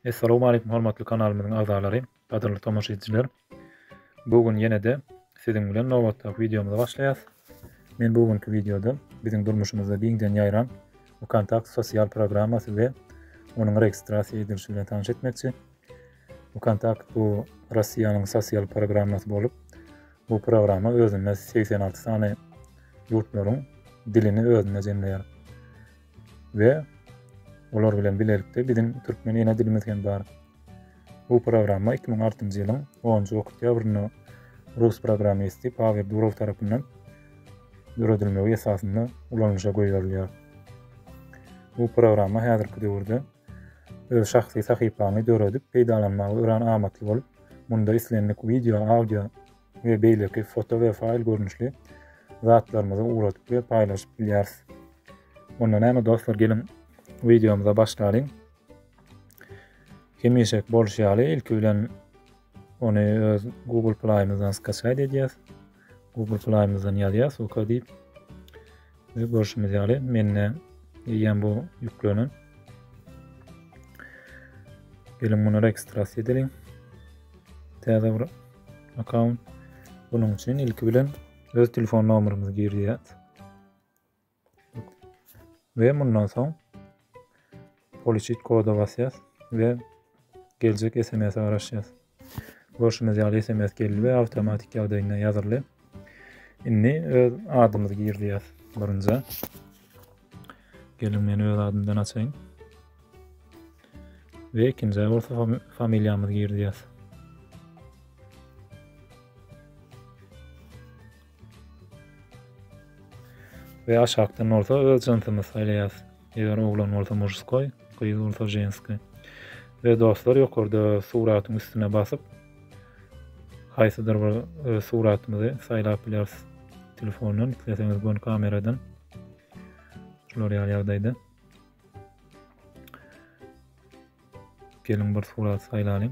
Essalamu aleýkum hormatly kanalymyzyň agzalary, gadyrly tomaşaçylar. Bu gün ýene-de siziň bilen nobatdaky wideomyzy başlaýas. Men bu günki wideoda biziň durmuşymyzda giňden ýaýran WKontakte sosial programmasy we onuň registrasiýa edilişi bilen tanyş etmekçi. Vkontakt bu Russiýanyň sosial programmasy bolup, bu programma özünde segsen alty sany ýurtlaryň dilini özünde jemleýär. We olar bilen bilelikde biziň türkmen ene dilimiz hem bar. Bu programma 2006-njy ýylyň 10-njy oktýabrynda rus programmisti Pawel Durow tarapyndan döredilmegi esasynda ulanyşa goýberilýär. Bu programma häzirki döwürde Öz şahsy sahypaňy döredip peýdalanmaga örän amatly bolup, munda islendik wideo, audio we beýleki foto we faýl görnüşli zatlarymyzy ugradyp we paýlaşyp bilýäris. Onda näme dostlar geliň wideomyza başlalyň. Hemişek bolşy ýaly ilki bilen ony öz Google Play-ymyzdan skaçaýt edýäs. Google Play-mizden ýazýas Suka diýip. Biz görşümiz ýaly mende eýýäm bu ýüklenen. Geliň muny registrasiýa edeliň. Täze bir akkaunt. Bunuň üçin ilki bilen öz telefon nomerimizi girýäs. we mundan soň poliçit koda basýas we geljek SMS-e garaşýas. Görşüňiz ýaly SMS geldi we awtomatik ýagdaýynda ýazyldy. Indi öz adymyzy girýäs birinji. Gelin men öz adymdan açaýyn. Ve ikinci bolsa familiýamyzy girýäs. we aşakdan bolsa öz jynsymyzy saýlaýas. Eger oglan bolsa mujskoý, gyz bolsa ženskoý. We dostlar ýokarda suratyň üstüne basyp haýsydyr bir e, suratymyzy saýlap bileris. Telefondan isleseňiz bön kameradan. Şular ýaly ýagdaýda. Geliň bir surat saýlalyň.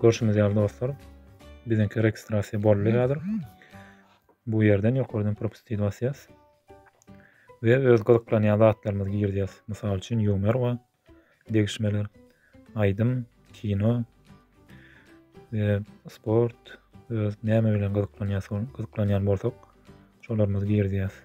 Görşüňiz ýaly dostlar, biziňki registrasiýa boldy häzir. Bu ýerden ýokardan propustit basýas. We öz gyzyklanýan zatlarymyzy girdýäs. Mysal üçin ýumer we degişmeler, aýdym, kino we sport, öz näme bilen gyzyklanýas, gyzyklanýan bolsak, şolarymyzy girdýäs.